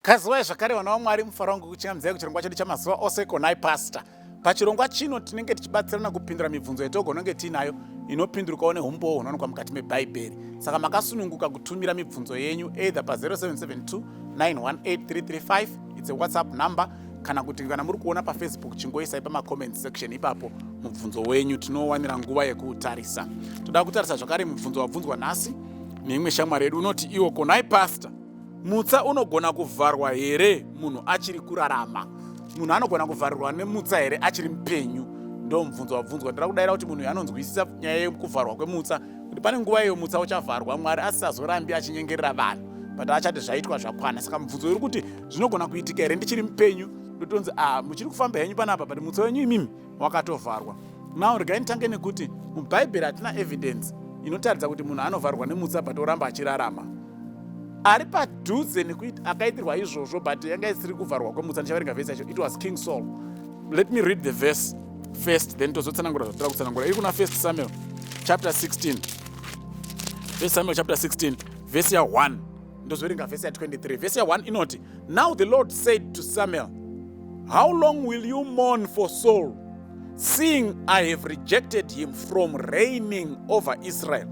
Kazivai zvakare vana vaMwari mufaro wangu kuchingamizai kuchirongwa chedu chamazuva ose konai pastor. Pachirongwa chino tinenge tichibatsirana kupindura mibvunzo yetogononge tiinayo inopindurukawo nehumbowo hunowanikwa mukati mebhaibheri. Saka makasununguka kutumira mibvunzo yenyu either pa0772 918335 it's a whatsapp number kana kuti kana muri kuona pafacebook chingoisai pamacomment section ipapo mubvunzo wenyu tinowanira nguva yekuutarisa. Toda kutarisa zvakare mubvunzo wabvunzwa nhasi neimwe shamwari yedu unoti iwo konai pastor Mutsa unogona kuvharwa here munhu achiri kurarama? Munhu anogona kuvharirwa nemutsa here achiri mupenyu? Ndo mubvunzo wabvunzwa. Ndira kudaira kuti munhu uyu anonzwisisa nyaya yekuvharwa kwemutsa kuti pane nguva iyo mutsa uchavharwa Mwari asisazorambi achinyengerera vanhu but achati zvaitwa zvakwana. Saka mubvunzo uri kuti zvinogona kuitika here ndichiri mupenyu? Ndotonzi ah, muchiri kufamba henyu panapa but mutsa wenyu imimi wakatovharwa now regai nditange nekuti mubhaibheri hatina evidence inotaridza kuti munhu anovharwa nemutsa but oramba achirarama ari padhuze nekuti akaitirwa izvozvo but yanga isiri kuvharwa kwemutsa ndichavaringa vhesi yacho it was king saul let me read the verse first then tozotsanangura zvatira kutsanangura iri kuna first samuel chapter 16 first samuel chapter 16 vhesi ya 1 ndozoverenga vhesi ya23 vhesi ya1 inoti now the lord said to samuel how long will you mourn for saul seeing i have rejected him from reigning over israel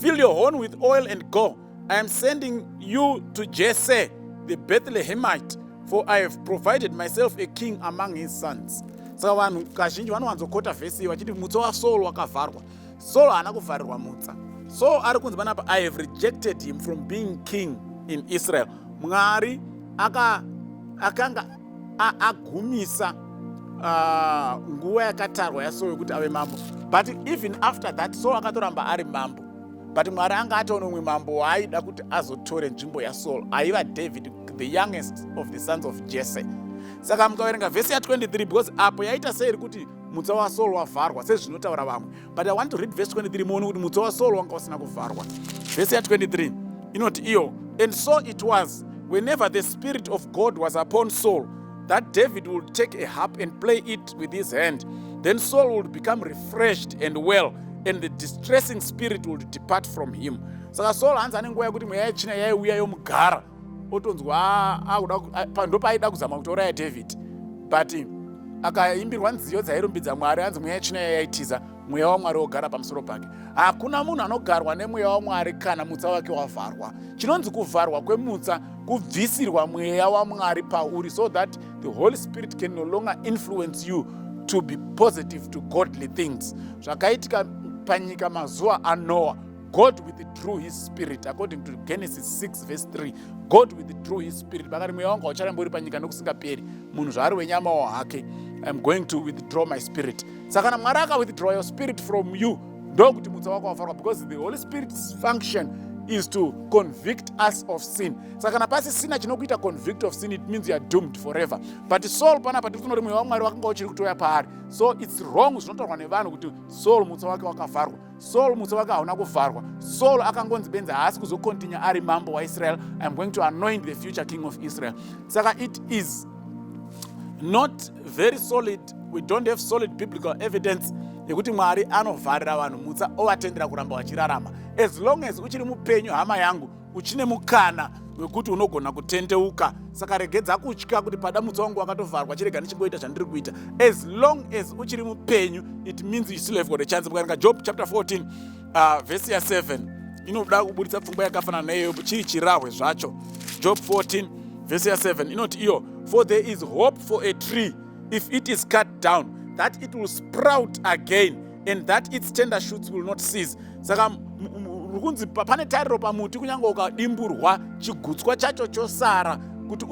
fill your horn with oil and go i am sending you to jesse the bethlehemite for i have provided myself a king among his sons saka vanhu kazhinji vanowanzokota vhesi vachiti mutso wasaul wakavharwa Saul haana kuvharirwa mutsa. Saul ari kunzi panapa I have rejected him from being king in Israel. Mwari aka akanga agumisa uh, nguva yakatarwa yaSaul yokuti ave mambo. But even after that Saul akatoramba ari mambo. But Mwari anga atoona umwe mambo waaida kuti azotore nzvimbo yaSaul. Aiva David the youngest of the sons of Jesse. Saka mukaverenga vhesi ya 23 because apo yaita seiri kuti mutsa wasaul wavharwa sezvinotaura vamwe but i want to read verse 23 muone kuti mutsa wasaul wanga usina kuvharwa vhesi ya 23 inoti iyo and so it was whenever the spirit of god was upon saul that david would take a harp and play it with his hand then saul would become refreshed and well and the distressing spirit would depart from him saka saul hanzi ane nguva yekuti mweya yechina yaiuya yomugara otonzwa ah, ndopaaida kuzama kutouraya david but akaimbirwa nziyo dzairumbidza mwari anzi mweya yechina yayaitiza mweya wamwari wogara pamusoro pake hakuna munhu anogarwa nemweya wamwari kana mutsa wake wavharwa chinonzi kuvharwa kwemutsa kubvisirwa mweya wamwari pauri so that the holy spirit can no longer influence you to be positive to godly things zvakaitika panyika mazuva anoa god withdrew his spirit according to genesis 6 verse 3 god withdrew his spirit vakati mweya wangu haucharambe uri panyika nokusingaperi munhu zvaari wenyamawo hake iam going to withdraw my spirit saka kana mwari akawithdraw your spirit from you ndokuti mutsa wako wafarwa because the holy spirit's function is to convict us of sin saka kana pasisina chinokuita convict of sin it means youare doomed forever but soul panapa tiri kunoti mweya wamwari wakanga uchiri kutoya paari so its wrong zvinotaurwa nevanhu kuti soul mutsa wake wakavharwa Saul muso wake hauna kuvharwa. Saul akangonzi benzi haasi kuzokontinya ari mambo waIsrael. I'm going to anoint the future king of Israel. Saka it is not very solid. We don't have solid biblical evidence yekuti Mwari anovharira vanhu mutsa ovatendera kuramba vachirarama. As long as uchiri mupenyu hama yangu uchine mukana wekuti unogona kutendeuka saka regedza kutya kuti pada mutsa wangu wakatovharwa chirega ndichingoita zvandiri kuita as long as uchiri mupenyu it means you still have got a chance mukaerenga job chapter 14 uh, vhesi ya 7 inoda kuburitsa pfungwa yakafanana neiyoyo chiri chirahwe zvacho job 14 vhesi ya 7 inoti iyo for there is hope for a tree if it is cut down that it will sprout again and that its tender shoots will not cease saka uri kunzi pane tariro pamuti kunyange ukadimburwa chigutswa chacho chosara kuti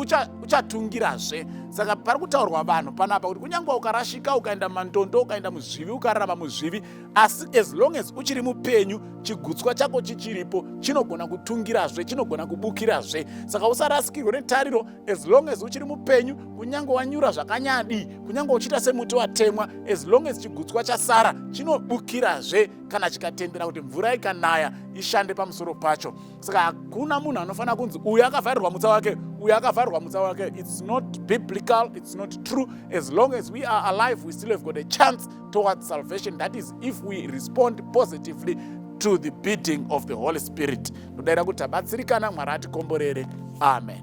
uchatungirazve ucha saka pari kutaurwa vanhu panapa kuti kunyange ukarashika ukaenda mandondo ukaenda muzvivi ukararama muzvivi asi as long as uchiri mupenyu chigutswa chako chichiripo chinogona kutungirazve chinogona kubukirazve saka usarasikirwe netariro as long as uchiri mupenyu kunyange wanyura zvakanyadii kunyange uchiita semuti watemwa as long as chigutswa chasara chinobukirazve kana chikatendera kuti mvura ikanaya ishande pamusoro pacho saka hakuna munhu anofanira kunzi uyu akavharirwa mutsa wake uyu akavharirwa mutsa wake its not biblical its not true as long as we are alive we still have got a chance towards salvation that is if we respond positively to the beating of the holy spirit ndodaira kuti tabatsirikana mwari atikomborere amen